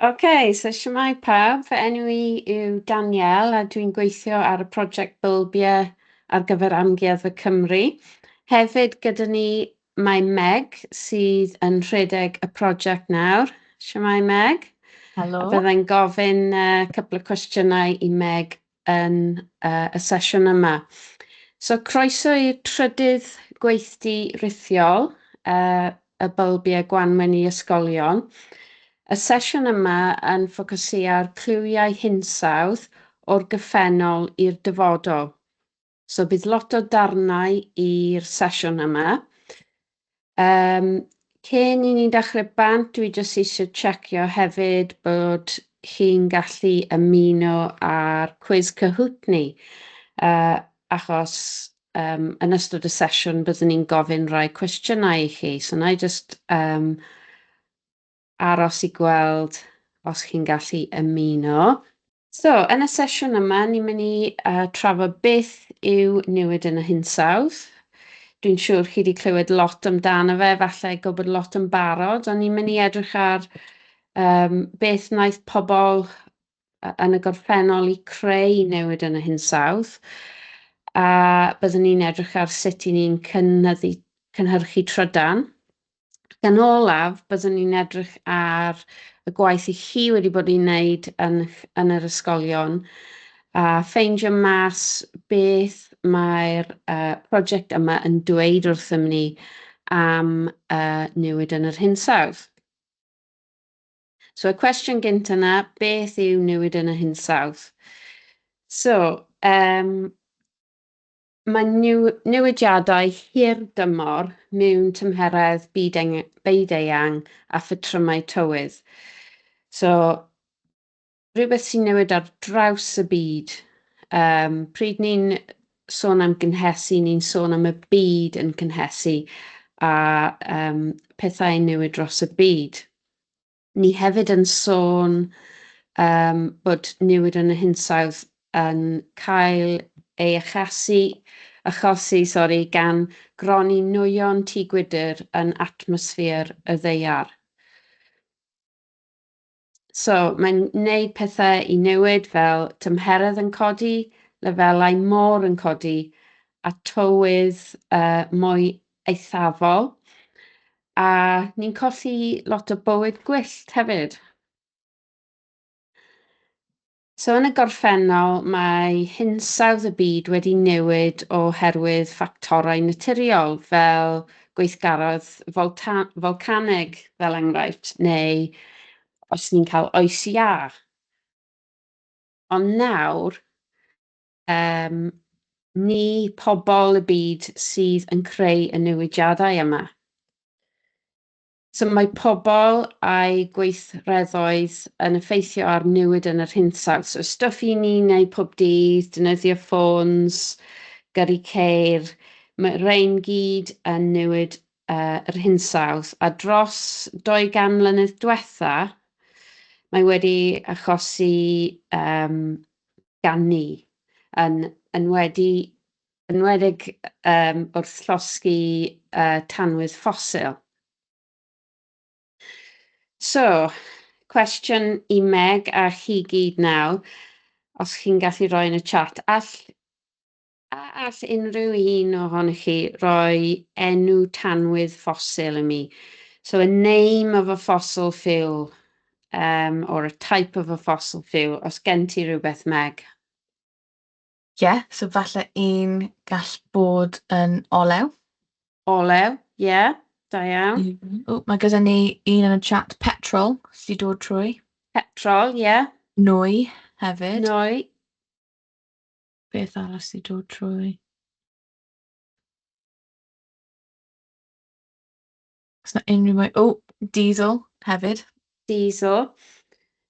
Ok, so shwmae pawb, fy enw i yw Danielle a dwi'n gweithio ar y prosiect Bylbie ar gyfer Amgueddfa Cymru. Hefyd gyda ni mae Meg sydd yn rhedeg y prosiect nawr. Shwmae Meg. Helo. Byddai'n gofyn uh, cwpl o cwestiynau i Meg yn y sesiwn yma. So croeso i'r trydydd gweithdy rithiol y Bylbiau Gwanwyn i Ysgolion. Y sesiwn yma yn ffocysu ar clywiau hinsawdd o'r gyffennol i'r dyfodol. So bydd lot o darnau i'r sesiwn yma. Um, cyn i ni'n dechrau bant, dwi jyst eisiau checio hefyd bod chi'n gallu ymuno ar cwiz Kahoot ni, uh, achos um, yn ystod y sesiwn byddwn ni'n gofyn rhai cwestiynau i chi. So na i just um, aros i gweld os chi'n gallu ymuno. So, yn y sesiwn yma, ni'n mynd i uh, trafod beth yw newid yn y hinsawdd. Dwi'n siŵr chi wedi clywed lot amdano fe, falle gwybod lot yn barod, ond ni'n mynd i edrych ar um, beth wnaeth pobl yn y gorffennol i creu newid yn y hinsawdd a byddwn ni'n edrych ar sut i ni'n cynyddu, cynhyrchu trydan Ac yn olaf, byddwn ni'n edrych ar y gwaith i chi wedi bod i'n wneud yn, yn yr ysgolion a ffeindio mas beth mae'r uh, prosiect yma yn dweud wrthym ni am uh, newid yn yr hinsawdd. So y cwestiwn gynt yna, beth yw newid yn y hinsawdd? So, um, Mae newidiadau hirdymor mewn tymheredd byd-eang a phatrymau tywydd, so rhywbeth sy'n newid ar draws y byd. Yym, pryd ni'n sôn am gynhesu, ni'n sôn am y byd yn cynhesu a yym pethau'n newid dros y byd. Ni hefyd yn sôn um, bod newid yn y hinsawdd yn cael ei achasu, achosi sorry, gan gronni nwyon tŷ gwydr yn atmosffer y ddeiar. So, mae'n wneud pethau i newid fel tymheredd yn codi, lefelau môr yn codi a tywydd uh, mwy eithafol. A ni'n colli lot o bywyd gwyllt hefyd. So yn y gorffennol, mae hinsawdd y byd wedi newid oherwydd ffactorau naturiol fel gweithgaredd folcaneg, fel enghraifft, neu os ni'n cael oes iâ. Ond nawr, Yym, ni pobl y byd sydd yn creu y newidiadau yma. So mae pobl a'i gweithredoedd yn effeithio ar newid yn yr hinsawdd. So stwff i ni wneud pob dydd, defnyddio ffôns, gyrru ceir, mae rhain gyd yn newid yr hinsawdd, a dros 200 mlynedd diwetha, mae wedi achosi um, gan ni, yn enwedi, enwedig um, wrth llosgi uh, tanwydd ffosil. So, cwestiwn i Meg a chi gyd nawr, os chi'n gallu rhoi yn y chat, all A all unrhyw un ohonych chi roi enw tanwydd ffosil i mi? So a name of a fossil fuel, um, or a type of a fossil fuel, os gen ti rhywbeth, Meg. Ie, yeah, so falle un gall bod yn olew. Olew, ie, yeah, da iawn. Mm -hmm. O, mae gyda ni un yn y chat, petrol, sy'n dod trwy. Petrol, ie. Yeah. Nwy, hefyd. Nwy. Beth arall sy'n dod trwy? Os na unrhyw mwy... O! Diesel hefyd. Diesel.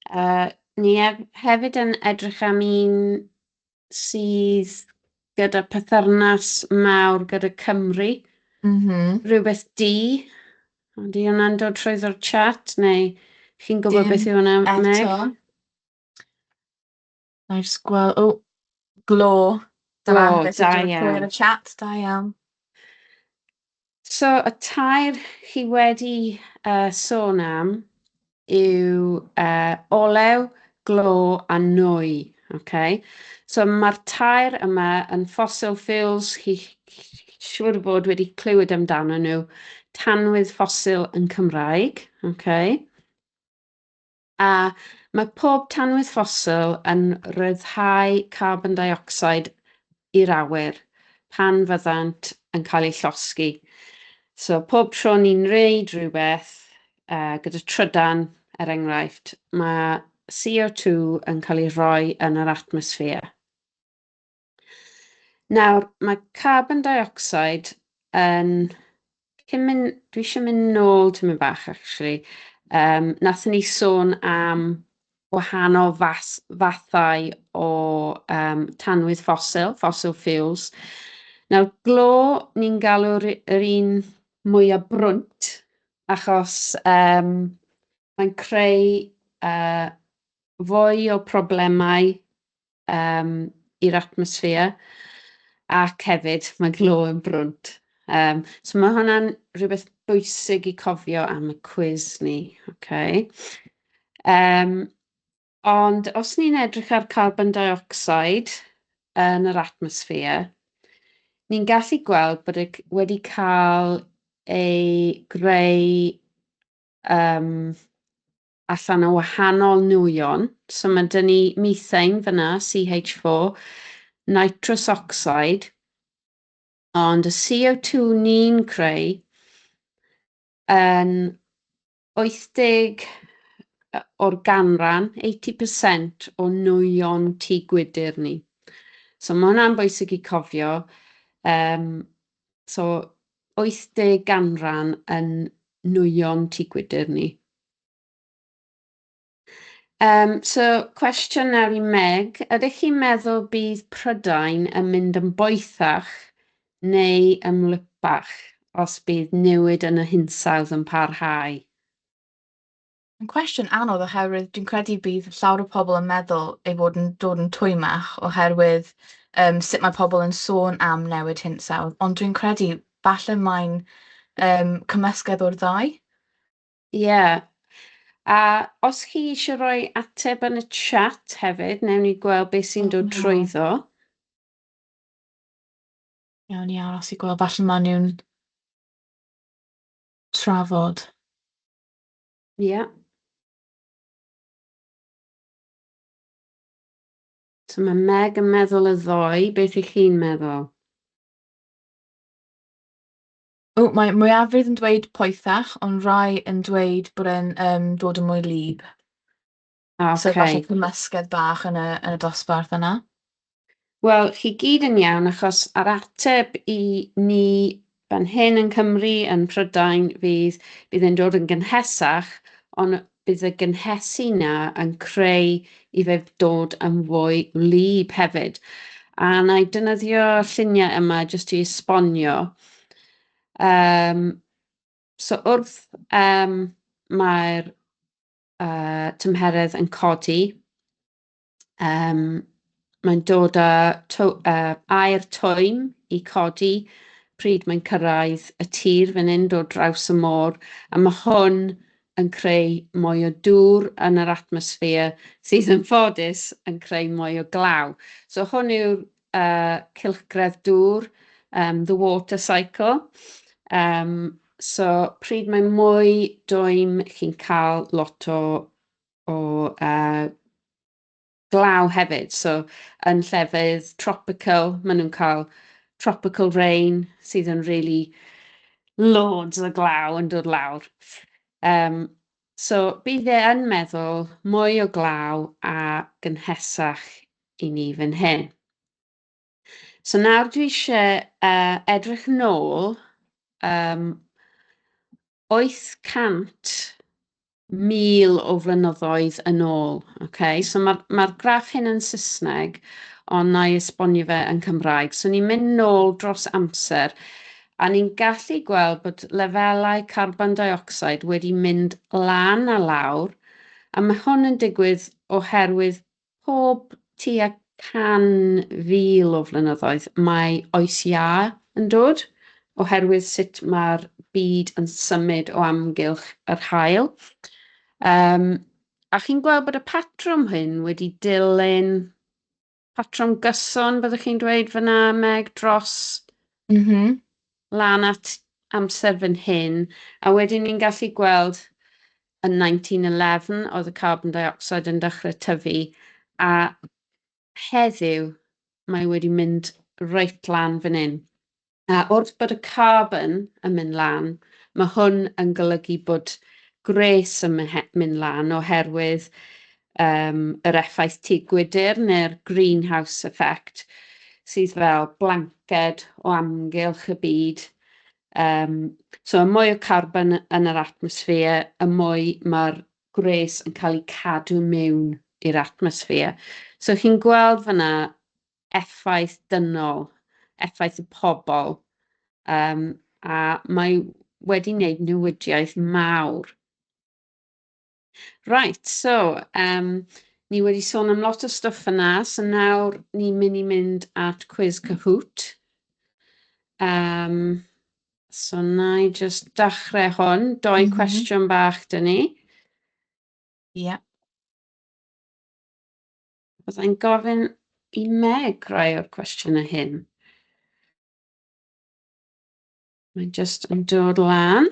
Uh, ni hef hefyd yn edrych am un sydd gyda pythyrnas mawr gyda Cymru. Mm -hmm. Rhywbeth D. Ond i hwnna'n dod trwy ddo'r chat, neu chi'n gwybod Dim beth yw hwnna, Meg? Eto. Wna i jyst gwel-, o! Glo da... Glo, da iawn. ...Beth yw glo yn y chat? Da iawn. So, y tair chi wedi uh, sôn am yw uh, olew, glo a nwy. Okay? So, mae'r tair yma yn fossil fuels, chi siŵr o fod wedi clywed amdano nhw, tanwydd ffosil yn Cymraeg. Okay? A, Mae pob tanwydd ffosil yn rhyddhau carbon dioxide i'r awyr pan fyddant yn cael eu llosgi. So, pob tro ni'n gwneud rhywbeth uh, gyda trydan, er enghraifft, mae CO2 yn cael ei rhoi yn yr atmosffer. Nawr, mae carbon dioxide yn... Cyn mynd, dwi eisiau mynd nôl tyn mynd bach, actually. Um, Nathyn ni sôn am wahanol fas, fathau o um, tanwydd ffosil, fossil fuels. Nawr, glo ni'n galw'r yr un mwyaf brwnt, achos um, mae'n creu uh, fwy o problemau um, i'r atmosffer ac hefyd mae glo yn brwnt. Um, so mae hwnna'n rhywbeth bwysig i cofio am y cwiz ni. Okay. Um, ond os ni'n edrych ar carbon dioxide yn yr atmosffer, ni'n gallu gweld bod e wedi cael ei greu um, allan o wahanol nwyon. So mae dyn ni methane fyna, CH4, nitrous oxide, ond y CO2 ni'n creu yn 80 o'r ganran, 80% o nwyon tŷ gwydr ni. So mae hwnna'n bwysig i cofio. Um, so 80 ganran yn nwyon tŷ gwydr ni. Um, so, cwestiwn nawr i Meg. Ydych chi'n meddwl bydd Prydain yn mynd yn boethach neu ymlypach os bydd newid yn y hinsawdd yn parhau? Yn cwestiwn anodd oherwydd dwi'n credu bydd llawr o pobl yn meddwl ei fod yn dod yn twymach oherwydd um, sut mae pobl yn sôn am newid hinsawdd, ond dwi'n credu falle mae'n um, cymysgedd o'r ddau. Ie, a os chi eisiau rhoi ateb yn y chat hefyd, wnewn ni gweld beth sy'n dod Iawn. trwyddo. Iawn ni aros i gweld, falle maen nhw'n trafod. Ie. So mae Meg yn meddwl y ddoe, beth 'ych chi'n meddwl? O, mae mwyafrif yn dweud poethach, ond rai yn dweud bod e'n, yym, dod yn mwy wlyb. O, So okay. falle cymysgedd bach yn y, yn y dosbarth yna. Wel, chi gyd yn iawn, achos ar ateb i ni fan hyn yn Cymru, yn Prydain, fydd, bydd e'n dod yn gynhesach, ond Bydd y gynhesu yna yn creu i fe dod yn fwy wlyb hefyd. A na i dynyddio lluniau yma jyst i esbonio. Um, so wrth um, mae'r uh, tymheredd yn codi, Yym, mae'n dod â tw- yy aer twym i codi pryd mae'n cyrraedd y tir fan hyn, dod draws y môr, a mae hwn yn creu mwy o dŵr yn yr atmosffer sydd yn ffodus yn creu mwy o glaw. So hwn yw'r uh, cylchgredd dŵr, um, the water cycle. Um, so pryd mae mwy dwym chi'n cael lot o o uh, glaw hefyd. So yn llefydd tropical, maen nhw'n cael tropical rain sydd yn really loads o glaw yn dod lawr. Um, so bydd e yn meddwl mwy o glaw a gynhesach i ni fan hyn. So nawr dwi eisiau uh, edrych nôl um, 800,000 o flynyddoedd yn ôl. Okay? So mae'r ma, graff hyn yn Saesneg, ond na i esbonio fe yn Cymraeg. So ni'n mynd nôl dros amser, a ni'n gallu gweld bod lefelau carbon dioxide wedi mynd lan a lawr, a mae hwn yn digwydd oherwydd Pob tua 100,000 o flynyddoedd mae Oes Iâ yn dod, oherwydd sut mae'r byd yn symud o amgylch yr haul. Um, a chi'n gweld bod y patrwm hyn wedi dilyn patrwm gyson, byddwch chi'n dweud fyna, Meg, dros mm -hmm. lan at amser fan hyn, a wedyn ni'n gallu gweld yn 1911 oedd y carbon dioxide yn dechrau tyfu a heddiw mae wedi mynd reit lan fan hyn. A wrth bod y carbon yn mynd lan, mae hwn yn golygu bod gwres yn mynd lan oherwydd um, yr effaith tu gwydr neu'r greenhouse effect sydd fel blanced o amgylch y byd Yym, so y mwy o carbon yn yr atmosffer, y mwy mae'r gwres yn cael eu cadw mewn i'r atmosffer. So chi'n gweld fanna effaith dynol, effaith y pobl, um, a mae wedi wneud newidiaeth mawr. Right, so, um, ni wedi sôn am lot o stwff yna, so nawr ni'n mynd i mynd at cwiz Kahoot. Um, so na i just dachrau hwn, doi mm -hmm. cwestiwn bach dyn ni. Ie. Yeah. Byddai'n gofyn i Meg rai o'r cwestiynau hyn. Mae'n just yn dod lan.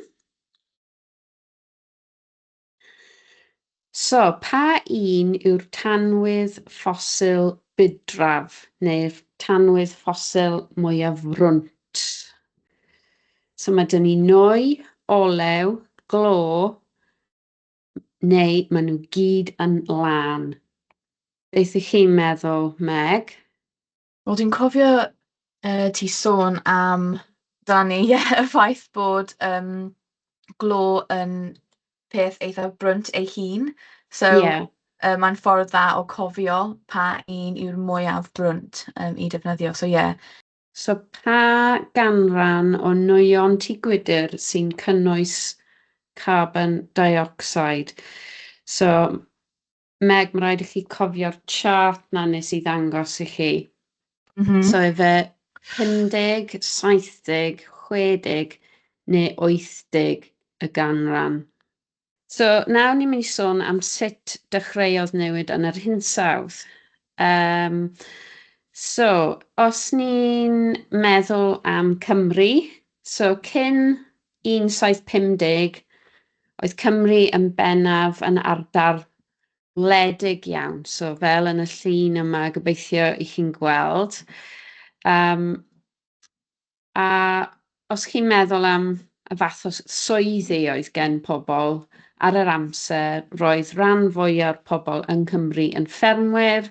So, pa un yw'r tanwydd ffosil budraf neu'r tanwydd ffosil mwyaf frwnt? So mae dyn ni nwy, olew, glo, neu maen nhw gyd yn lân. Beth ych chi'n meddwl, Meg? Wel dwi'n cofio, yy, ti sôn am Dani, ie, y ffaith bod, yym, glo yn peth eitha brwnt ei hun, so... Ie. ...yy, mae'n ffordd dda o cofio pa un yw'r mwyaf brwnt, yym, i defnyddio, so ie. So pa ganran o nwyon tŷ gwydr sy'n cynnwys carbon deuocsid? So Meg, mae'n rhaid i chi cofio'r chart na nes i ddangos i chi. Mm -hmm. So efe 50, 70, 60 neu 80 y ganran. So nawr ni'n mynd i sôn am sut dechreuodd newid yn yr hinsawdd. Um, so, os ni'n meddwl am Cymru, so cyn 1750, oedd Cymru yn bennaf yn ardal wledig iawn, so fel yn y llun yma, gobeithio i chi'n gweld. Um, a os chi'n meddwl am y fath o swyddi oedd gen pobl ar yr amser, roedd rhan fwyaf o'r pobl yng Nghymru yn ffermwyr,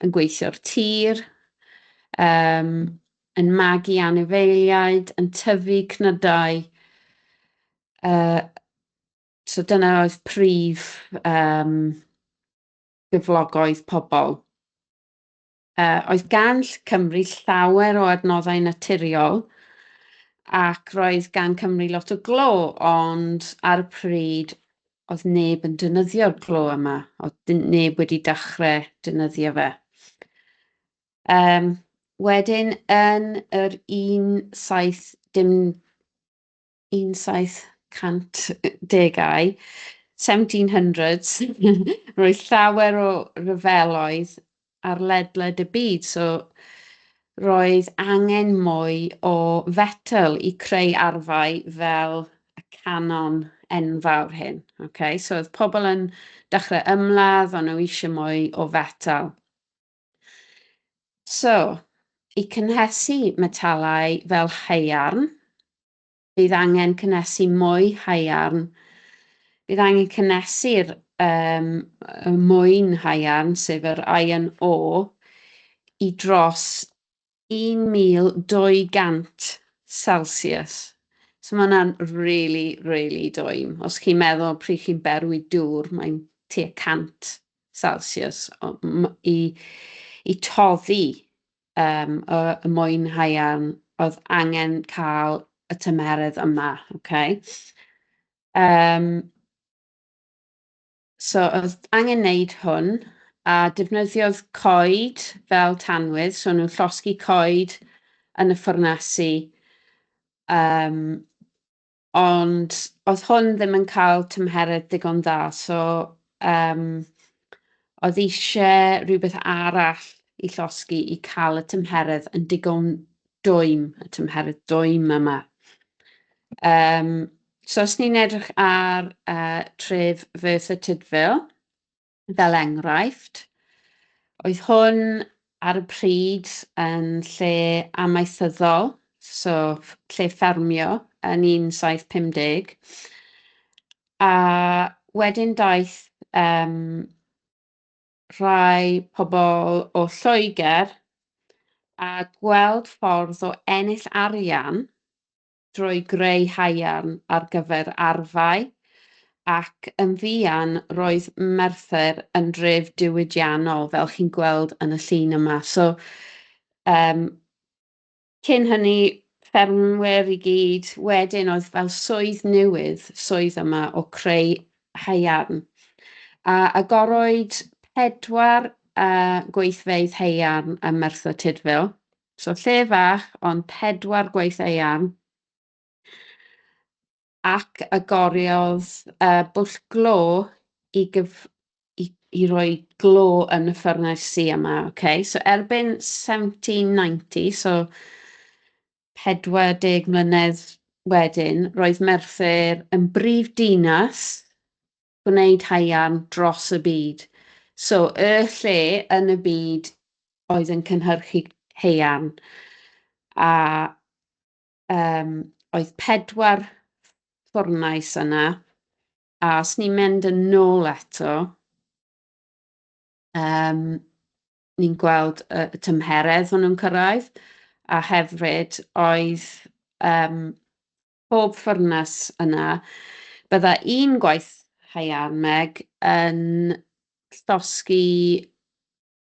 yn gweithio'r tir, um, yn magu anifeiliaid, yn tyfu cnydau. Uh, so dyna oedd prif um, gyflogoedd pobl. Uh, oedd gan Cymru llawer o adnoddau naturiol ac roedd gan Cymru lot o glo, ond ar y pryd oedd neb yn dynyddio'r glo yma, oedd neb wedi dechrau dynyddio fe. Yym, wedyn yn yr un saith dim un saith cant degau, seventeen hundreds, roedd llawer o ryfeloedd ar ledled y byd, so roedd angen mwy o fetel i creu arfau fel y canon enfawr hyn, ok. So oedd pobl yn dechrau ymladd, o'n nhw eisiau mwy o fetel. So, i cynhesu metalau fel haearn, bydd angen cynhesu mwy haearn. Bydd angen cynhesu'r um, mwyn haearn, sef yr iron ore, i dros 1,200 celsius. So mae hwnna'n really, really doim. Os chi'n meddwl pryd chi'n berwi dŵr, mae'n tua 100 celsius o- m- i, i toddi um, y, y mwyn haearn oedd angen cael y tymeredd yma. Okay? Um, So oedd angen wneud hwn, a defnyddiodd coed fel tanwydd, so nhw'n llosgi coed yn y ffwrnasi. Um, ond oedd hwn ddim yn cael tymheredd digon dda, so um, oedd eisiau rhywbeth arall i llosgi i cael y tymheredd yn digon dwym, y tymheredd dwym yma. Um, So os ni'n edrych ar uh, tref Merthyr Tudful, fel enghraifft, oedd hwn ar y pryd yn lle amaethyddol, so lle ffermio yn 1750, a wedyn daeth um, rhai pobl o Lloegr a gweld ffordd o ennill arian drwy greu haearn ar gyfer arfau, ac yn fuan roedd Merthyr yn dref diwydiannol, fel chi'n gweld yn y llun yma. So, um, cyn hynny, ffermwyr i gyd, wedyn oedd fel swydd newydd, swydd yma o creu haearn. A agorwyd pedwar uh, gweithfeydd haearn ym Merthyr Tudful, So lle fach ond pedwar gwaith eang ac agoriodd y bwll glo i gyf... i... i roi glo yn y ffyrnesi yma, ok. So erbyn 1790, so 40 mlynedd wedyn, roedd Merthyr yn brif dinas gwneud haearn dros y byd. So, y lle yn y byd oedd yn cynhyrchu haearn, a um, oedd pedwar ffwrnais yna, a os ni'n mynd yn nôl eto, um, ni'n gweld y, y tymheredd hwnnw'n cyrraedd, a hefyd oedd um, pob ffwrnes yna, bydda i'n gwaith haearn, Meg, yn llosgi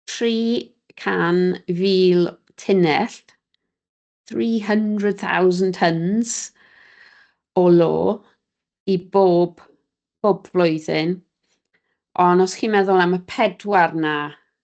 300,000 tunnell, 300,000 tons, o lo i bob, bob blwyddyn. Ond os chi'n meddwl am y pedwar 'na,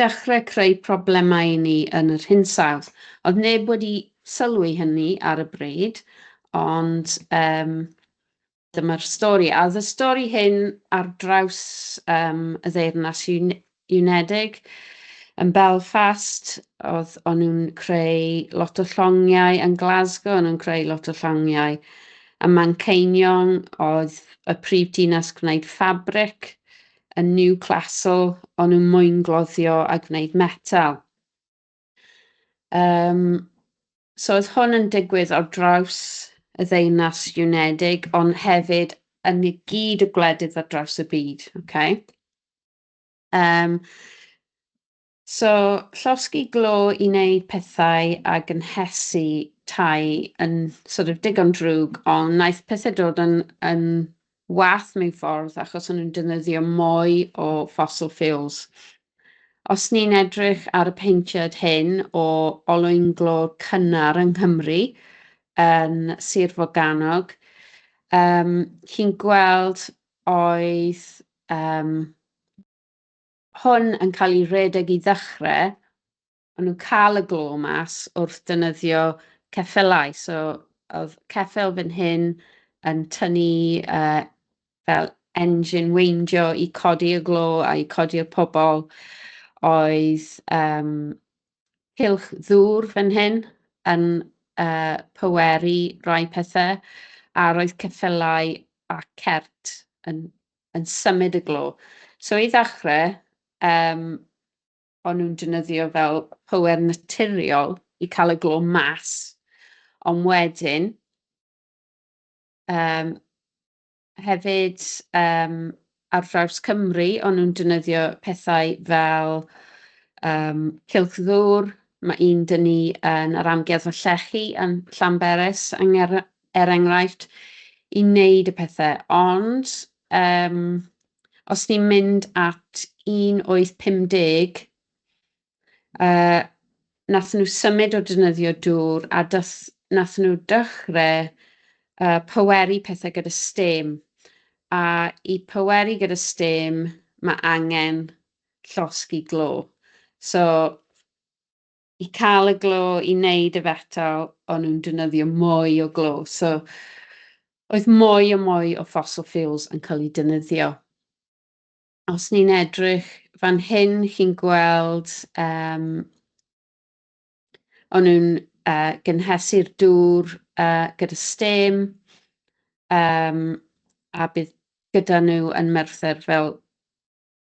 dechrau creu problemau i ni yn yr hinsawdd. Oedd neb wedi sylwi hynny ar y bryd, ond um, dyma'r stori. A oedd y stori hyn ar draws um, y ddeyrnas Unedig, yn Belfast, oedd o'n nhw'n creu lot o llongiau, yn Glasgow o'n nhw'n creu lot o llongiau, a Manceinion oedd y prif dinas gwneud ffabric, yn Newclastle, o'n nhw'n mwyngloddio a gwneud metal. Um, so oedd hwn yn digwydd ar draws y ddeunas Unedig, ond hefyd yn y gyd y gwledydd ar draws y byd. Okay? Um, So, llosgi glo i wneud pethau a gynhesu tai yn sort of digon drwg, ond wnaeth pethe dod yn yn wath mewn ffordd achos o'n nhw'n defnyddio mwy o fossil fuels. Os ni'n edrych ar y paentiad hyn o olwyn glo cynnar yng Nghymru, yn Sir Forgannwg, um, chi'n gweld oedd um, hwn yn cael ei redeg i ddechrau, o'n nhw'n cael y glo mas wrth dynyddio ceffylau. So, oedd ceffyl fan hyn yn tynnu uh, fel engine weindio i codi y glo a i codi'r pobl. Oedd um, cilch ddŵr fan hyn yn uh, pyweri rai pethau, a roedd ceffylau a cert yn yn symud y glo. So i ddechrau, um, o'n nhw'n dynyddio fel power naturiol i cael y glo mas, ond wedyn, um, hefyd um, ar draws Cymru, o'n nhw'n dynyddio pethau fel um, cilch ddŵr, mae un dyn ni yn yr amgueddfa llechi yn Llanberis, yng er enghraifft, i wneud y pethau. Ond um, os ni'n mynd at 1850, uh, nath nhw symud o dynyddio dŵr a dath, nath nhw dechrau uh, poweru pethau gyda stem. A i poweru gyda stem, mae angen llosgi glo. So, i cael y glo i wneud y fetal, o'n nhw'n defnyddio mwy o glo. So, oedd mwy o mwy o fossil fuels yn cael ei defnyddio. Os ni'n edrych fan hyn, chi'n gweld um, o'n nhw'n uh, gynhesu'r dŵr uh, gyda stem, um, a bydd gyda nhw yn Merthyr fel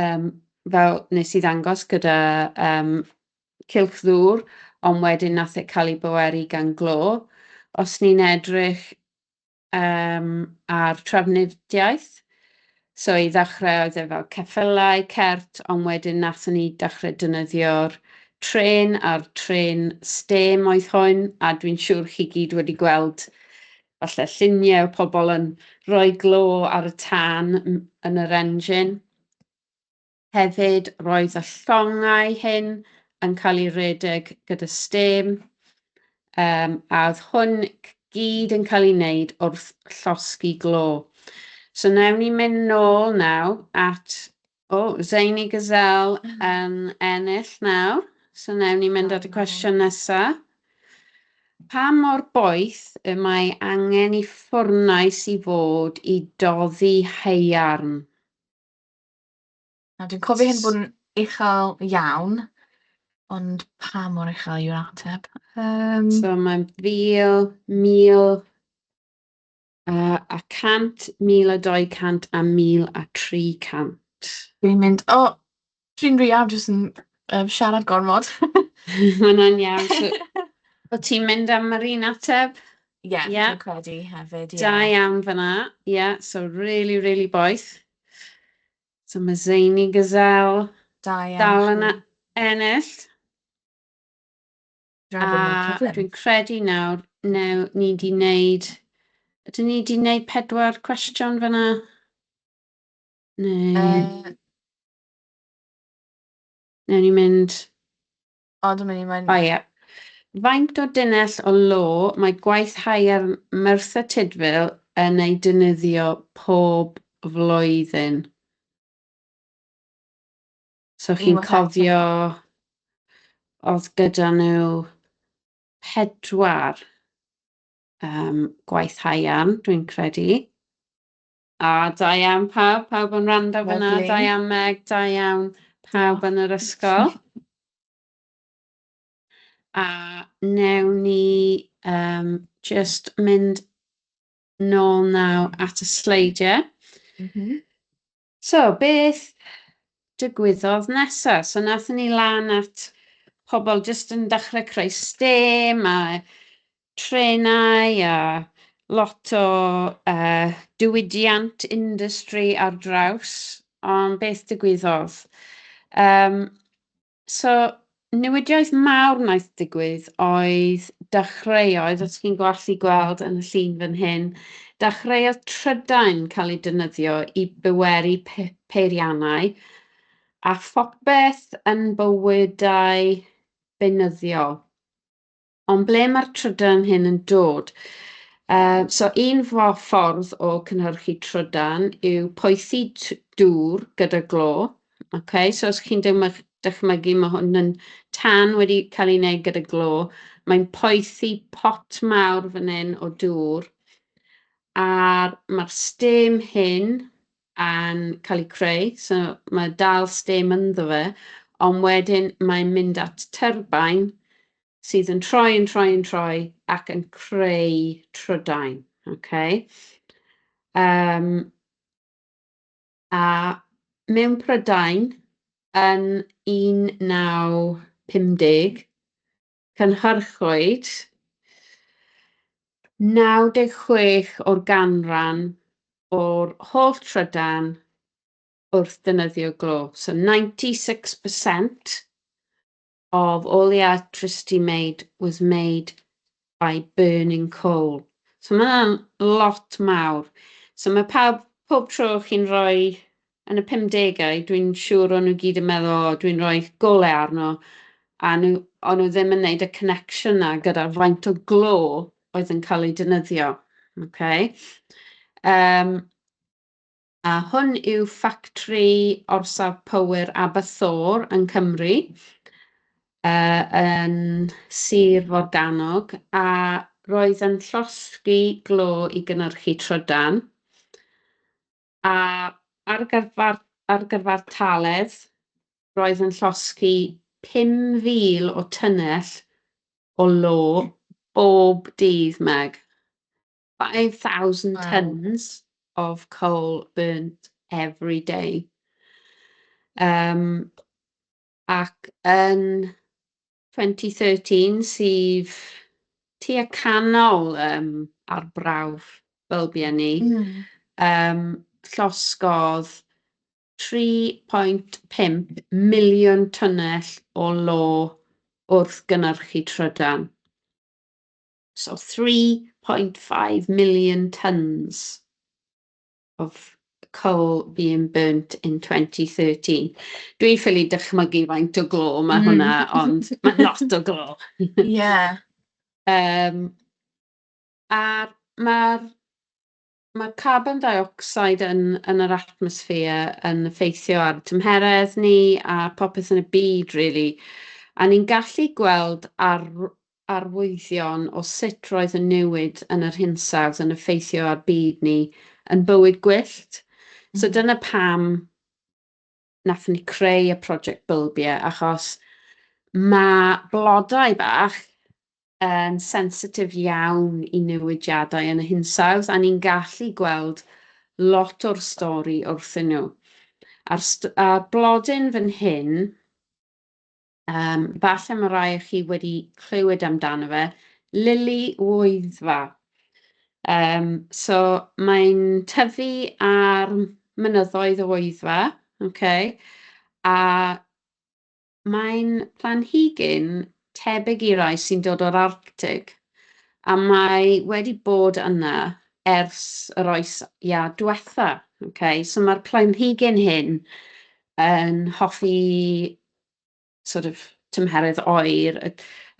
yym, fel wnes i ddangos gyda yym cylch ddŵr, ond wedyn wnaeth e cael ei bweru gan glo. Os ni'n edrych yym ar trafnidiaeth, so i ddechrau oedd e fel ceffylau, cert, ond wedyn wnaethon ni dechrau defnyddio'r trên a'r trên stêm oedd hwn, a dwi'n siŵr chi gyd wedi gweld Falle lluniau o pobl yn rhoi glo ar y tân yn yr engine. Hefyd, roedd y llongau hyn yn cael ei redeg gyda stêm, um, a oedd hwn gyd yn cael ei wneud wrth llosgi glo. So nawn ni mynd nôl naw at O, Zaini Gazal yn ennill nawr. So newn ni mynd at y cwestiwn nesa. Pa mor boeth y mae angen i ffwrnais i fod i doddi haearn? Na, dwi'n cofio hyn bod yn uchel iawn, ond pa mor uchel yw'r ateb? Um... So mae'n fil, mil, A, a cant, mil a dou cant a mil a tri cant. Dwi'n mynd, o, dwi'n rhy anxious yn um, siarad gormod. Hwna'n iawn. So, o ti'n mynd am yr un ateb? Ie, yeah, yeah. dwi'n credu hefyd, ie. Yeah. Da iawn fyna, ie, yeah, so really, really boeth. So mae Zaini Gazelle dal yna ennill. A bod nhw'n cyflym. dwi'n credu nawr, new, ni wedi wneud... Ydyn ni wedi wneud pedwar cwestiwn fanna? Neu... Uh, Newn ni mynd... o, dwi'n mynd i mynd... O ie. Faint o dunnell o lo mae gwaith haiar Merthyr Tudful yn ei dynyddio pob flwyddyn? So chi'n cofio oedd gyda nhw pedwar yym gwaith haearn, dwi'n credu. A da iawn pawb, pawb yn wrando fan'na. Lyfli. Da iawn Meg, da iawn pawb yn yr ysgol. A newn ni yym jyst mynd nôl naw at y sleidiau. Mhm. So, beth dygwyddodd nesa? So, nathon ni lan at pobl jyst yn dechrau creu stêm a trenau a lot o uh, diwydiant industry ar draws. Ond beth dygwyddodd? Um, So, newidiaeth mawr wnaeth digwydd oedd dechreuoedd, os chi'n gallu gweld yn y llun fan hyn, dechreuodd trydain cael ei defnyddio i byweru pe peiriannau a phopeth yn bywydau beunyddiol. Ond ble mae'r trydan hyn yn dod? Uh, so un ffordd o cynhyrchu trydan yw poethi dŵr gyda glo. Okay, so os chi'n dychmygu, mae hwn yn tan wedi cael ei wneud gyda glo. Mae'n poethi pot mawr fan hyn o dŵr. A'r mae'r stem hyn yn cael ei creu, so mae dal stem ynddo fe, ond wedyn mae'n mynd at terbain sydd yn troi, yn troi, yn troi ac yn creu trydain. Okay? Um, a mewn Prydain yn 1950, Cynhyrchwyd 96 o'r ganran o'r holl trydan wrth ddefnyddio glo. So 96% of all the electricity made was made by burning coal. So mae yna'n lot mawr. So mae pawb, pob tro chi'n rhoi yn y pumdegau, dwi'n siŵr o'n nhw gyd yn meddwl, o, oh, dwi'n rhoi gole arno, a nhw, o'n nhw ddim yn gwneud y connection na gyda'r faint o glo oedd yn cael ei dynyddio. Okay? Um, a hwn yw ffactri orsaf power Aberthor yn Cymru, uh, yn Sir Forganog, a roedd yn llosgi glo i gynnyrchu trydan. A ar gyfer ar gyfer taledd, roedd yn llosgi 5,000 o tunnell o lo bob dydd, Meg. 5,000 tonnes of coal burnt every day. Yym, ac yn 2013 sydd tua canol yym arbrawf bylbiau ni. Mm. Um, llosgodd 3.5 miliwn tunnell o lo wrth gynnyrchu trydan. So 3.5 million tons. of coal being burnt in 2013. Dwi'n ffili dychmygu faint o glo mae mm. hwnna, mm. ond mae'n lot o glo. Ie. yeah. Um, a mae'r mae carbon dioxide yn, yn yr atmosffer yn effeithio ar tymheredd ni a popeth yn y byd, really. A ni'n gallu gweld ar arwyddion o sut roedd y newid yn yr hinsawdd yn effeithio ar byd ni yn bywyd gwyllt. Mm. So dyna pam nath ni creu y prosiect bylbie, achos mae blodau bach yn sensitif iawn i newidiadau yn y hinsawdd, a ni'n gallu gweld lot o'r stori wrthyn nhw. A'r, st a'r blodyn fan hyn, Yym, falle mae rai o chi wedi clywed amdano fe, lili Wyddfa. Um, so mae'n tyfu ar mynyddoedd o Wyddfa, okay? a mae'n planhigyn tebyg i rai sy'n dod o'r Arctig, a mae wedi bod yna ers yr oes ia diwetha. Okay? So mae'r planhigyn hyn yn hoffi sort of tymheredd oer y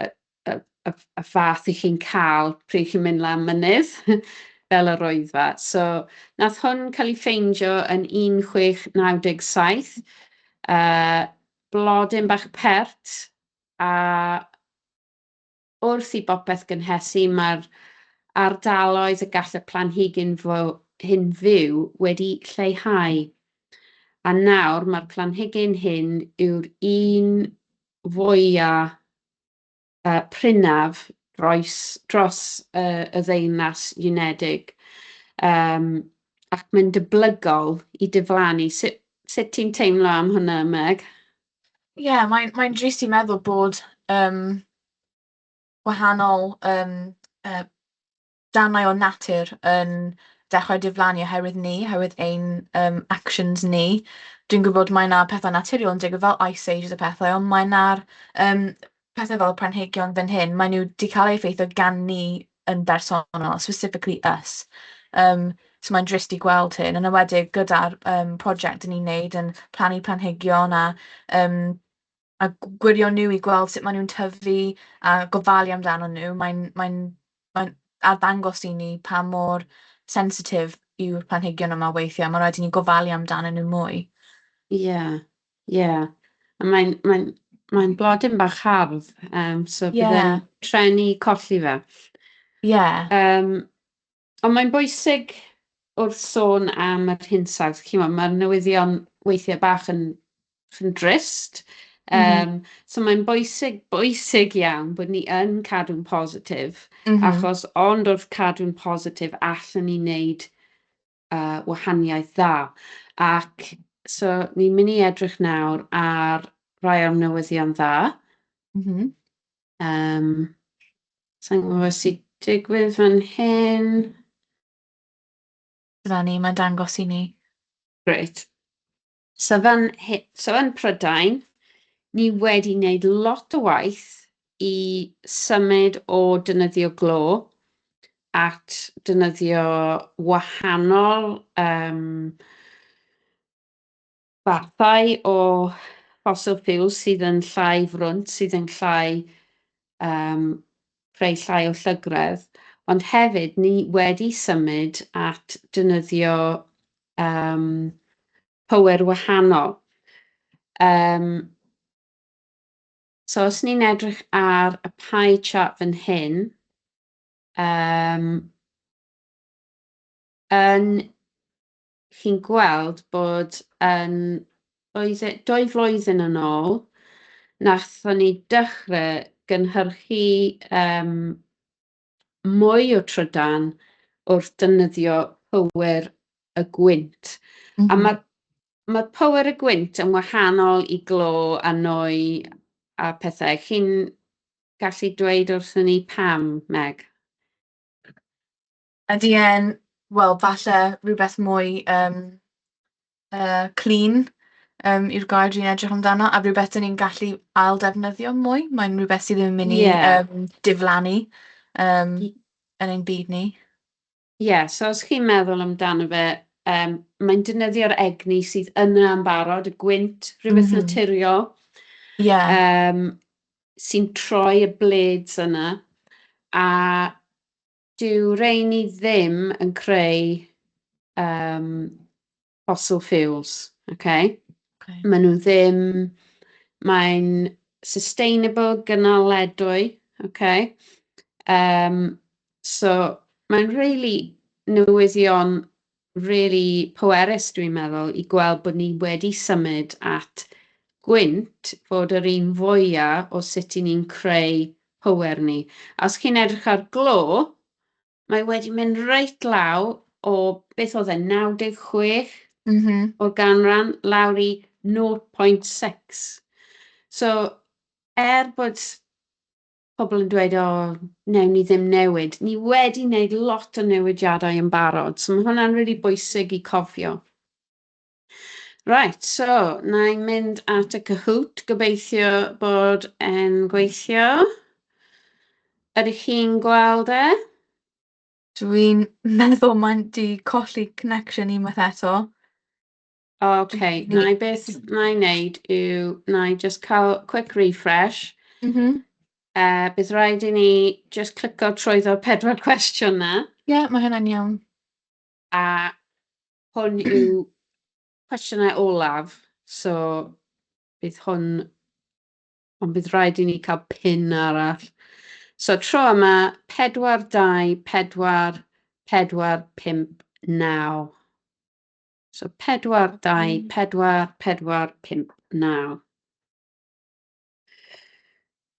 y y y y fath 'y chi'n cael pryd chi'n mynd lan mynydd fel yr Wyddfa. So wnaeth hwn cael ei ffeindio yn 1697, yy blodyn bach pert a wrth i bopeth gynhesu, mae'r ardaloedd y gall y planhigyn hyn fyw wedi lleihau, a nawr mae'r planhigyn hyn yw'r un fwyaf uh, prinaf dros, dros uh, y ddeunas unedig. Um, ac mae'n dyblygol i diflannu. Sut, sut ti'n teimlo am hwnna, Meg? Ie, mae'n mae'n drist i meddwl bod, yym, gwahanol, yym, yy, darnau o natur yn dechrau diflannu oherwydd ni, oherwydd ein, yym, actions ni. Dwi'n gwybod mae 'na pethe naturiol yn digwydd fel ice ages a pethe, ond mae 'na'r yym pethe fel y planhigion fan hyn, maen nhw 'di cael eu effeithio gan ni yn bersonol, specifically us. Yym, so mae'n drist i gweld hyn, yn enwedig gyda'r yym project 'yn ni'n neud yn plannu planhigion a yym a g- gwirio nhw i gweld sut maen nhw'n tyfu a gofalu amdano nhw, mae'n mae'n mae'n arddangos i ni pa mor sensitif yw'r planhigion yma weithiau, ma' raid i ni gofalu amdanyn nhw mwy. Ie. Ie, a mae'n mae'n mae'n blodyn bach hardd, yym, so... Ie. ...bydd e'n treni colli fe. Ie. Yym, ond mae'n bwysig wrth sôn am yr hinsawdd, chimod, ma'r newyddion weithiau bach yn yn drist, yym... M-hm. ...so mae'n bwysig, bwysig iawn bod ni yn cadw'n positif... M-hm. ...achos ond wrth cadw'n positif allen ni wneud yy wahaniaeth dda. Ac so ni'n mynd i edrych nawr ar rai o'r newyddion dda. Mhm. Um, Sa'n gwybod beth sy'n digwydd fan hyn. Dyna ni, mae'n dangos i ni. Grêt. So fan he- so yn Prydain, ni wedi wneud lot o waith i symud o defnyddio glo at defnyddio wahanol yym fathau o fossil fuels sydd yn llai frwnt, sydd yn llai yym creu llai o llygredd, ond hefyd ni wedi symud at dynyddio um, power wahanol. Um, so os ni'n edrych ar y pie chart fan hyn, um, yn chi'n gweld bod yn, oedd e dwy flwyddyn yn ôl, nathon ni dechre gynhyrchu yym mwy o trydan wrth defnyddio power y gwynt. Mm -hmm. A mhm. mae'r ma power y gwynt yn wahanol i glo a nwy a pethau. Chi'n gallu dweud wrthyn ni pam, Meg? Ydy e'n, wel falle rywbeth mwy yym, yy, clean yym yw'r gair dwi'n edrych amdano, a rywbeth dan ni'n gallu ail-ddefnyddio mwy. Mae'n rywbeth sydd ddim yn mynd i... ie... yym, diflannu yym yn ein byd ni. Ie, so os chi'n meddwl amdano fe, yym, mae'n defnyddio'r egni sydd yna yn barod, y gwynt, rhywbeth... m-hm... naturiol... ie... yym, sy'n troi y blades yna, a Dyw rheiny ddim yn creu yym fossil fuels, ok? Okay. Maen nhw ddim... Mae'n sustainable, gynaledwy, ok? Um, so mae'n really newyddion rili pwerus dwi'n meddwl i gweld bod ni wedi symud at gwynt fod yr un fwya o sut i ni'n creu pŵer ni. A os chi'n edrych ar glo, mae wedi mynd reit law o beth oedd e 96 Mhm. o ganran lawr i 0.6. So er bod pobl yn dweud, o, newn ni ddim newid. Ni wedi wneud lot o newidiadau yn barod, so mae hwnna'n really bwysig i cofio. Right, so, na i mynd at y Kahoot, gobeithio bod e'n gweithio. Ydych chi'n gweld e? Dwi'n meddwl mae'n di colli connection unwaith eto. Ok, wna i beth wna i wneud yw, wna i jyst cael quick refresh. M-hm. Yy, bydd raid i ni jyst clico trwyddo'r pedwar cwestiwn 'na. Ie, mae hynna'n iawn. A hwn yw cwestiynau olaf, so bydd hwn... Ond bydd raid i ni cael pin arall. So tro yma, 4, 2, 4, 4, 5, 9. So 4, 2, 4, 4, 5, 9.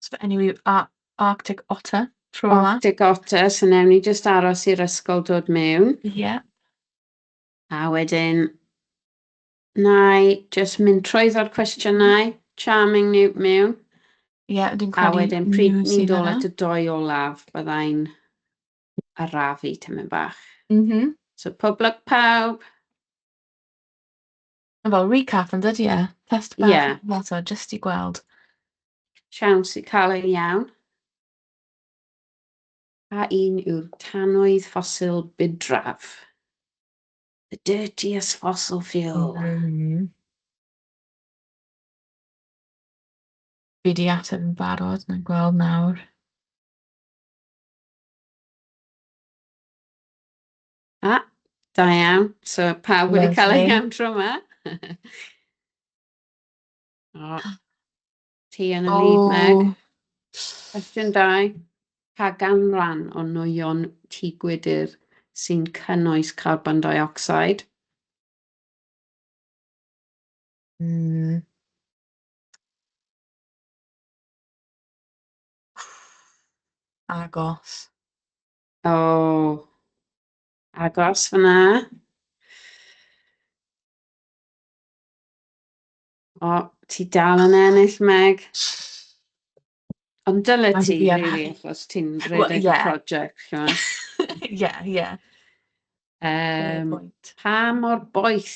So fe enw yw Ar- Arctic Otter tro yma. Arctic Otter, so newn ni jyst aros i'r ysgol dod mewn. Ie. A wedyn, na i jyst mynd trwyddo'r cwestiynau, charming ni mewn. Ie, dwi'n A credu wedyn, pryd nhw ni'n sydd dod yna. at y doi olaf, byddai'n arafu tamaid bach. Mhm. So pob lwc pawb! Mae fel recap yn dydi e? Test bach... Ie. ...fel so jyst i gweld. Siawns i cael ein iawn. A un yw'r tanwydd ffosil budraf. The dirtiest fossil fuel. Mm. Fi di ateb yn barod, na'n gweld nawr. A, da iawn. So, pawb wedi cael eu iawn tro yma. o, ti yn y lead, Meg. Cwestiwn dau. Pa ganran o nwyon tŷ gwydr sy'n cynnwys carbon dioxide? Mm. Agos. O, agos fan'na. O, ti dal yn ennill, Meg. Ond dyle Ond ti ie. rili achos ti'n Wel, rhedeg y ie. project, chimod. Ie, ie. Yym, Yym, pa mor boeth?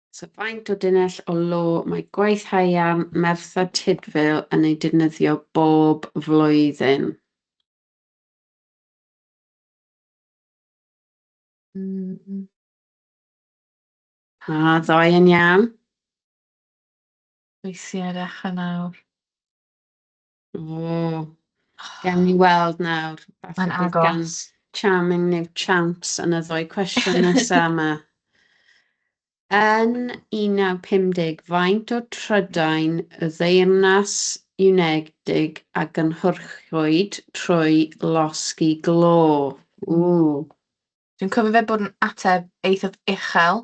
So faint o dunnell o lo mae gwaith haearn Merthyr Tudful yn ei defnyddio bob flwyddyn? Mm. A ddoe yn iawn. Weithiau ar echan awr. O! Gawn ni weld nawr. Falle... Mae'n agos. ...bydd gan Charming New Chance yn y ddwy cwestiwn nesa 'ma. Yn 1950, faint o trydain y Ddeyrnas Unedig a gynhyrchwyd trwy losgi glo? Ww! Dwi'n cofio fe bod yn ateb eithaf uchel.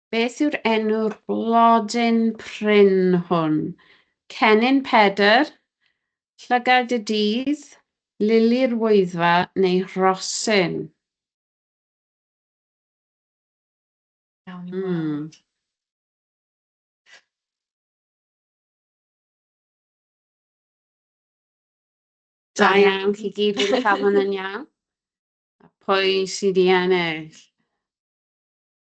Beth yw'r enw'r blodyn prin hwn? Cennin Pedr, llygad y dydd, lili'r wyddfa neu rhosyn? Iawn i weld. Mm. Da iawn, chi gyd wedi cael hwn yn iawn. A pwy sydd i ennill?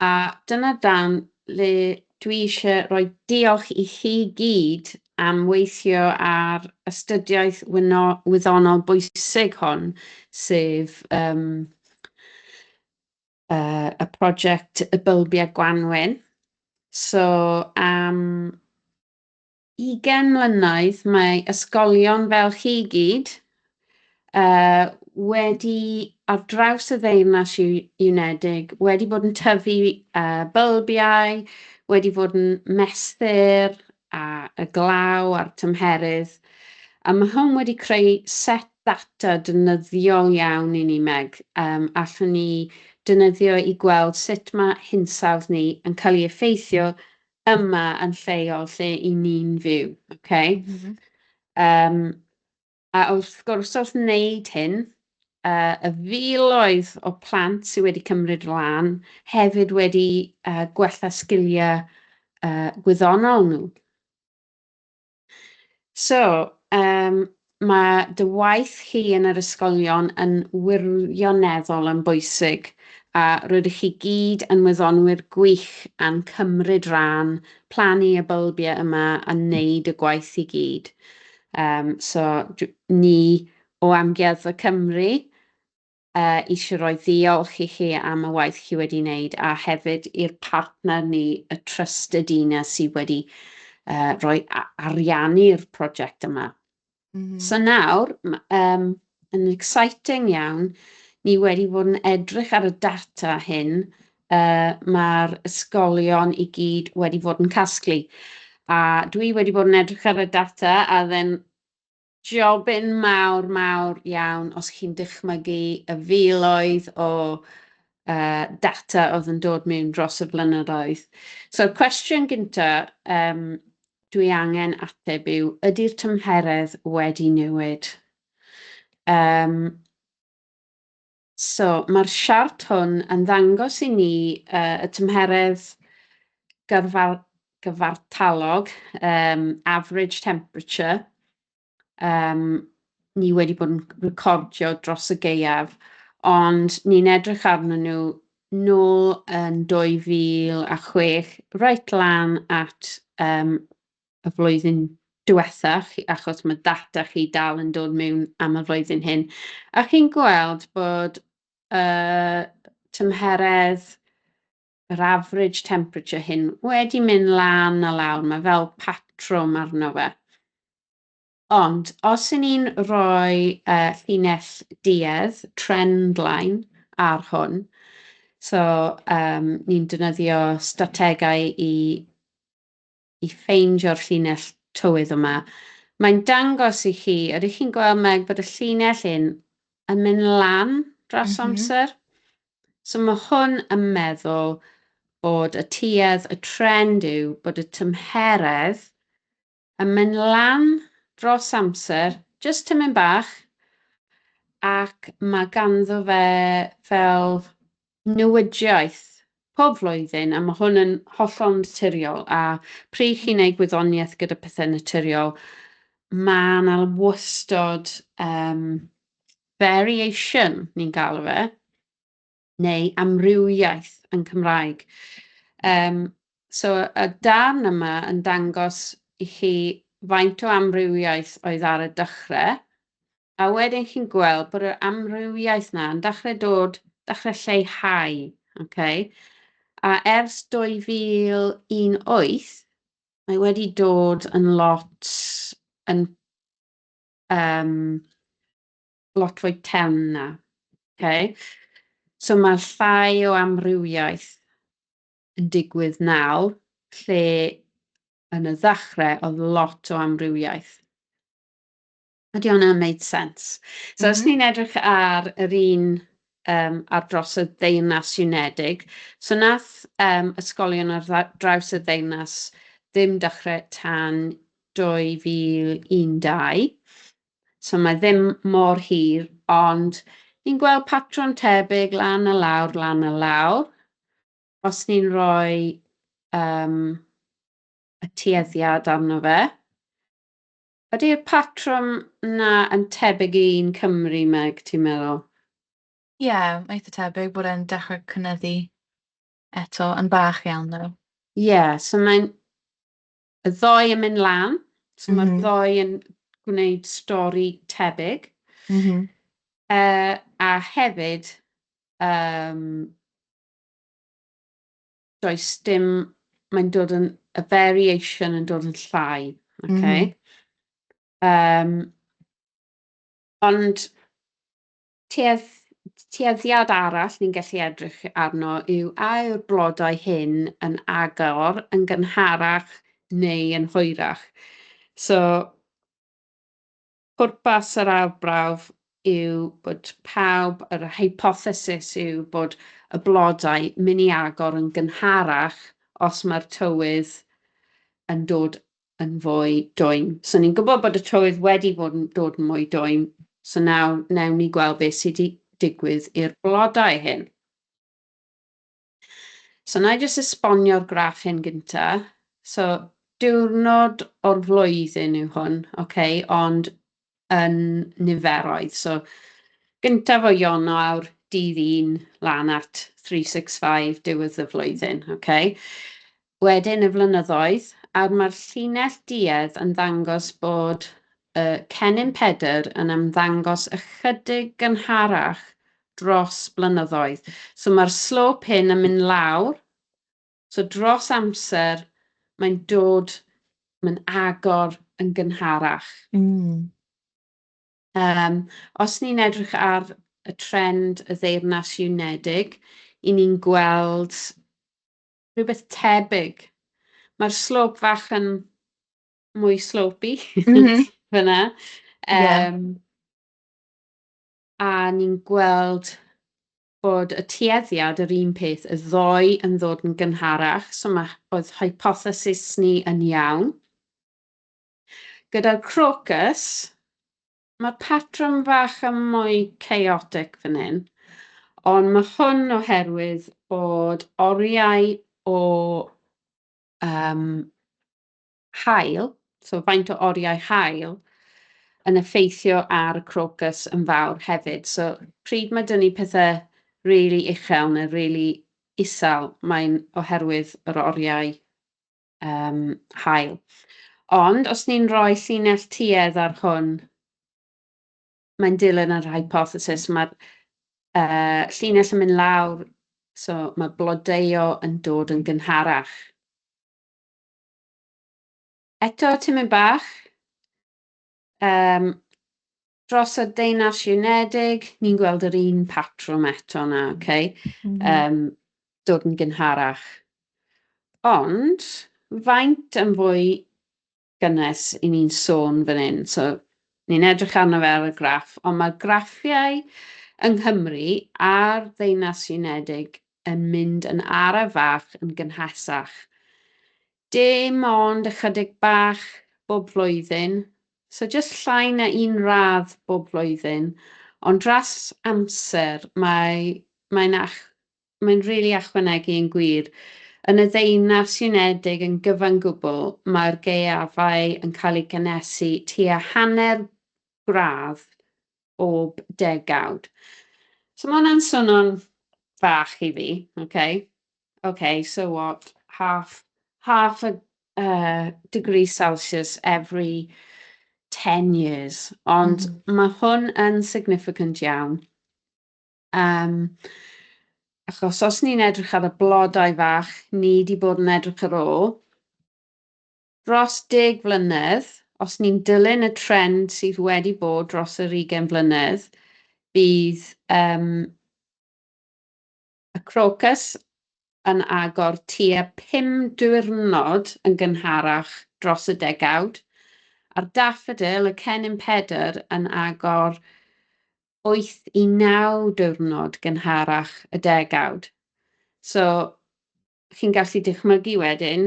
A dyna dan le dwi eisiau rhoi diolch i chi gyd am weithio ar astudiaeth wyddonol bwysig hon, sef yym yy y project y bylbiau gwanwyn. So am 20 mlynedd mae ysgolion fel chi i gyd yy wedi ar draws y Ddeyrnas U- Unedig wedi bod yn tyfu yy bylbiau, wedi fod yn mesur a y glaw a'r tymheredd a ma' hwn wedi creu set data defnyddiol iawn i ni Meg yym allwn ni defnyddio i gweld sut ma' hinsawdd ni yn cael ei effeithio yma yn lleol lle i ni'n fyw, oce? Mhm. Yym, a wrth gwrs, wrth wneud hyn, uh, y filoedd o plant sydd wedi cymryd lan hefyd wedi uh, gwella sgiliau uh, gwyddonol nhw. So, um, mae dy waith chi yn yr ysgolion yn wirioneddol yn bwysig a rydych chi gyd yn wyddonwyr gwych a'n cymryd rhan, plannu y bylbiau yma a wneud y gwaith i gyd. Um, so, ni o Amgueddfa Cymru, eisiau rhoi ddiolch i chi am y waith chi wedi wneud a hefyd i'r partner ni, y Trust Edina, sydd wedi uh, rhoi ariannu'r prosiect yma. Mm -hmm. So nawr, um, yn exciting iawn, ni wedi bod yn edrych ar y data hyn uh, mae'r ysgolion i gyd wedi bod yn casglu. A dwi wedi bod yn edrych ar y data a then Jobyn mawr, mawr iawn os chi'n dychmygu y filoedd o uh, data oedd yn dod mewn dros y blynyddoedd. So, cwestiwn gyntaf um, dwi angen ateb yw, ydy'r tymheredd wedi newid? Um, So, mae'r siart hwn yn ddangos i ni uh, y tymheredd gyrfar, gyfartalog, um, average temperature, um, ni wedi bod yn recordio dros y geiaf, ond ni'n edrych arnyn nhw nôl yn 2006, reit lan at um, y flwyddyn diwetha chi, achos mae data chi dal yn dod mewn am y flwyddyn hyn, a chi'n gweld bod uh, tymheredd yr average temperature hyn wedi mynd lan a lawr, mae fel patrwm arno fe. Ond os yn ni'n rhoi uh, llinell duedd, trend line, ar hwn, so um, ni'n defnyddio strategau i i ffeindio'r llinell tywydd yma. Mae'n dangos i chi, ydych chi'n gweld Meg, bod y llinell hyn yn mynd lan dros mm -hmm. amser? So mae hwn yn meddwl bod y tuedd, y trend yw bod y tymheredd yn mynd lan dros amser, jyst tymyn bach, ac mae ganddo fe fel newidiaeth pob flwyddyn, a mae hwn yn hollol naturiol, a pryd chi'n ei gwyddoniaeth gyda pethau naturiol, mae yna wastod um, variation, ni'n galw fe, neu amrywiaeth yn Cymraeg. Um, So y darn yma yn dangos i chi faint o amrywiaeth oedd ar y dechrau, a wedyn chi'n gweld bod yr amrywiaeth yna yn dechrau dod, dechrau lleihau, okay? a ers 2018 mae wedi dod yn lot yn um, lot fwy tewn na. Okay? So mae llai o amrywiaeth yn digwydd nawr, lle yn y ddechrau oedd lot o amrywiaeth. Ydy hwnna'n wneud sens? So, os mhm. ni'n edrych ar yr un um, ar dros y Ddeyrnas Unedig, so nath um, ysgolion ar draws y Ddeyrnas ddim dechrau tan 2012, So mae ddim mor hir, ond ni'n gweld patrwm tebyg lan a lawr, lan a lawr. Os ni'n rhoi um, y tueddiad arno fe, ydy'r patrwm na yn tebyg i un Cymru, Meg, ti'n meddwl? Ie, yeah, eitha tebyg bod e'n dechrau cynyddu eto, yn bach iawn nhw. Ie, yeah, so mae'n y ddoi yn mynd lan, so mm -hmm. mae'r ddoi yn gwneud stori tebyg. Mm -hmm. uh, a hefyd, um, does dim, mae'n dod yn, y variation yn dod yn llai, okay? Mm -hmm. um, ond Tueddiad arall ni'n gallu edrych arno yw a yw'r blodau hyn yn agor yn gynharach neu yn hwyrach. So, pwrpas yr arbrawf yw bod pawb, yr hypothesis yw bod y blodau mynd i agor yn gynharach os mae'r tywydd yn dod yn fwy dwym. So ni'n gwybod bod y tywydd wedi bod yn dod yn mwy dwym, so nawr newn ni gweld beth sydd wedi digwydd i'r blodau hyn. So na i jyst esbonio'r graff hyn gynta. So diwrnod o'r flwyddyn yw hwn, okay, ond yn niferoedd. So, gyntaf o Ionawr, dydd un, lan at 365, diwedd y flwyddyn, ok? Wedyn y flynyddoedd, a mae'r llinell duedd yn ddangos bod y cennin Pedr yn ymddangos ychydig gynharach dros blynyddoedd. So, mae'r slope hyn yn mynd lawr, So dros amser mae'n dod, mae'n agor yn gynharach. Mm. Um, os ni'n edrych ar y trend y ddeyrnas unedig, i ni'n gweld rhywbeth tebyg. Mae'r slop fach yn mwy slopi mm -hmm. fyna. Um, yeah. A ni'n gweld bod y tueddiad yr un peth y ddoe yn ddod yn gynharach, so mae oedd hypothesis ni yn iawn. Gyda'r crocus, mae patrwm fach yn mwy chaotic fan hyn, ond mae hwn oherwydd bod oriau o um, haul, so faint o oriau haul, yn effeithio ar y crocus yn fawr hefyd. So, pryd mae dyn ni pethau really uchel neu really isel, mae'n oherwydd yr oriau um, hael. Ond os ni'n rhoi llinell tuedd ar hwn, mae'n dilyn yr hypothesis, mae'r uh, llinell yn mynd lawr, so mae blodeuo yn dod yn gynharach. Eto tipyn bach yym dros y Deyrnas Unedig, ni'n gweld yr un patrwm eto 'na, ok? M-hm. Yym, dod yn gynharach. Ond, faint yn fwy gynnes i ni'n sôn fan hyn? So, ni'n edrych arno fe ar y graff, ond mae'r graffiau yng Nghymru a'r Ddeyrnas Unedig yn mynd yn araf fach yn gynhesach. Dim ond ychydig bach bob flwyddyn, so jyst llai na un radd bob flwyddyn, ond dros amser mae, mae'n, ach, mae'n rili really achwanegu yn gwir. Yn y Ddeunas Unedig yn gyfan gwbl, mae'r gaeafau yn cael eu cynhesu tua hanner gradd bob degawd. So mae hwnna'n swnio'n fach i fi, okay? Okay, so what, half, half a uh, degree Celsius every 10 years, ond mm. mae hwn yn significant iawn. Um, achos os ni'n edrych ar y blodau fach, ni wedi bod yn edrych ar ôl, dros deg mlynedd, os ni'n dilyn y trend sydd wedi bod dros yr ugain mlynedd, bydd y crocus yn agor tua pum diwrnod yn gynharach dros y degawd, a'r daffodil, y cennin Pedr, yn agor wyth i naw diwrnod gynharach y degawd. So, chi'n gallu dychmygu wedyn,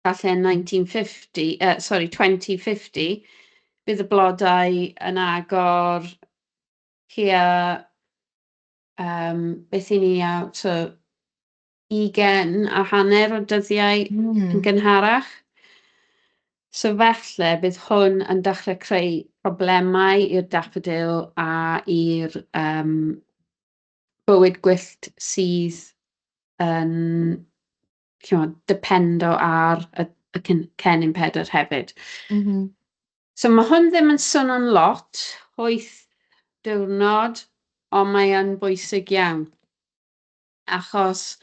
Falle 1950, yy sori 2050, bydd y blodau yn agor tua yym beth i ni a so ugain a hanner o dyddiau... Mm. ...yn gynharach. So falle bydd hwn yn dechrau creu problemau i'r daffodil a i'r yym bywyd gwyllt sydd yn chimod, dependo ar y y cyn- cennin pedr hefyd. Mhm. So mae hwn ddim yn swnio'n lot, wyth diwrnod, ond mae yn bwysig iawn. Achos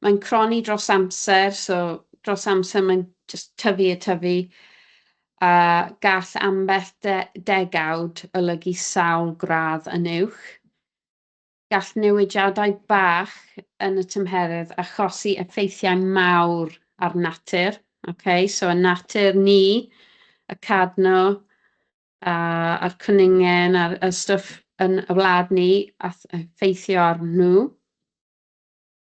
mae'n croni dros amser, so dros amser mae'n jyst tyfu a tyfu, a gall ambell de- degawd olygu sawl gradd yn uwch. gall newidiadau bach yn y tymheredd achosi effeithiau mawr ar natur. Okay? So, y natur ni, y cadno, a, a'r cwningen a'r y stwff yn y wlad ni a effeithio arnyn nhw.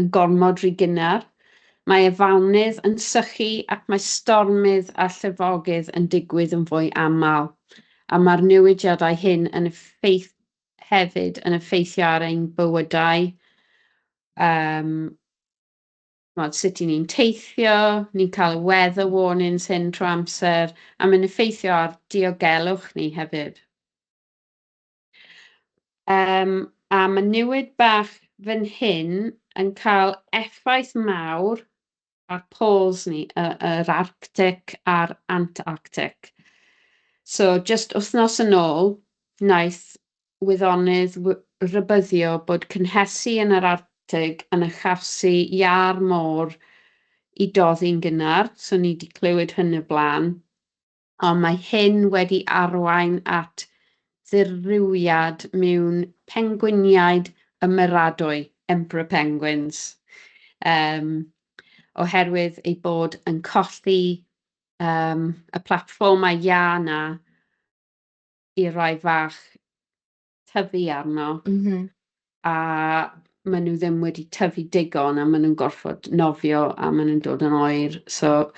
yn gormod rhy gynnar, mae afaonydd yn sychu ac mae stormydd a llifogydd yn digwydd yn fwy aml, a mae'r newidiadau hyn yn effeith hefyd yn effeithio ar ein bywydau, um, mod, sut i ni'n teithio, ni'n cael y weather warnings hyn trwy amser, a mae'n effeithio ar diogelwch ni hefyd. Yym, a mae newid bach fan hyn yn cael effaith mawr ar poles ni, y, yr Arctic a'r Antarctic. So, just wythnos yn ôl, wnaeth wyddonydd rybyddio bod cynhesu yn yr Arctig yn achosi iâr môr i doddi'n gynnar, so ni wedi clywed hyn y blaen. ond mae hyn wedi arwain at ddirywiad mewn pengwiniaid ymeradwy, emperor penguins, um, oherwydd ei bod yn colli um, y platfformau iâ yna i rai fach tyfu arno. Mm -hmm. A maen nhw ddim wedi tyfu digon a maen nhw'n gorfod nofio a maen nhw'n dod yn oer. So,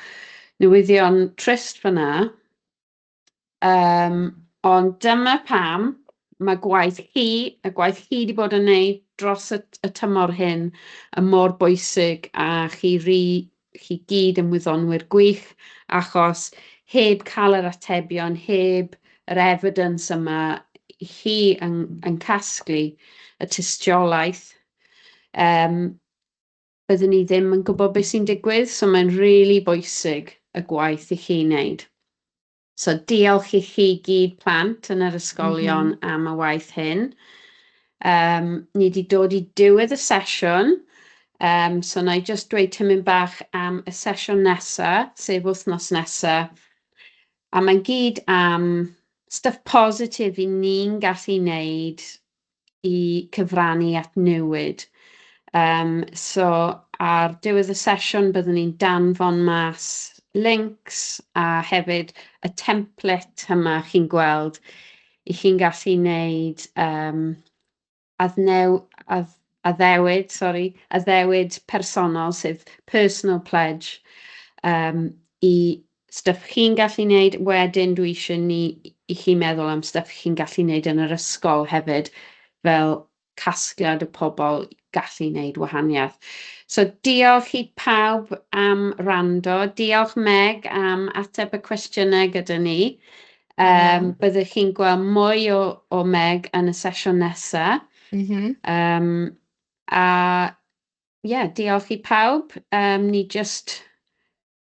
newyddion trist fyna. Um, ond dyma pam mae gwaith chi, y gwaith chi wedi bod yn neud dros y, y tymor hyn, y mor bwysig a chi ri chi gyd yn wyddonwyr gwych, achos heb cael yr atebion, heb yr evidence yma i chi yn, yn casglu y tystiolaeth, um, byddwn ni ddim yn gwybod beth sy'n digwydd, so mae'n rili really bwysig y gwaith i chi wneud. So diolch i chi gyd plant yn yr ysgolion mm -hmm. am y waith hyn. Um, ni wedi dod i diwedd y sesiwn, um, so na i just dweud tymyn bach am y sesiwn nesa, sef wythnos nesa. A mae'n gyd am stuff positif i ni'n gallu wneud i cyfrannu at newid. Um, so, ar diwedd y sesiwn byddwn ni'n danfon mas links a hefyd y template yma chi'n gweld i chi'n gallu wneud um, adnew, ad, addewid, sorry, addewid personol, sef personal pledge, um, i Stuff chi'n gallu wneud, wedyn dwi eisiau ni, i chi meddwl am stuff chi'n gallu wneud yn yr ysgol hefyd, fel casgliad o pobl gallu wneud wahaniaeth. So diolch i pawb am wrando, diolch Meg am ateb y cwestiynau gyda ni. Um, byddwch chi'n gweld mwy o, o Meg yn y sesiwn nesaf. Mm -hmm. um, a ie, yeah, diolch i pawb. Um, ni just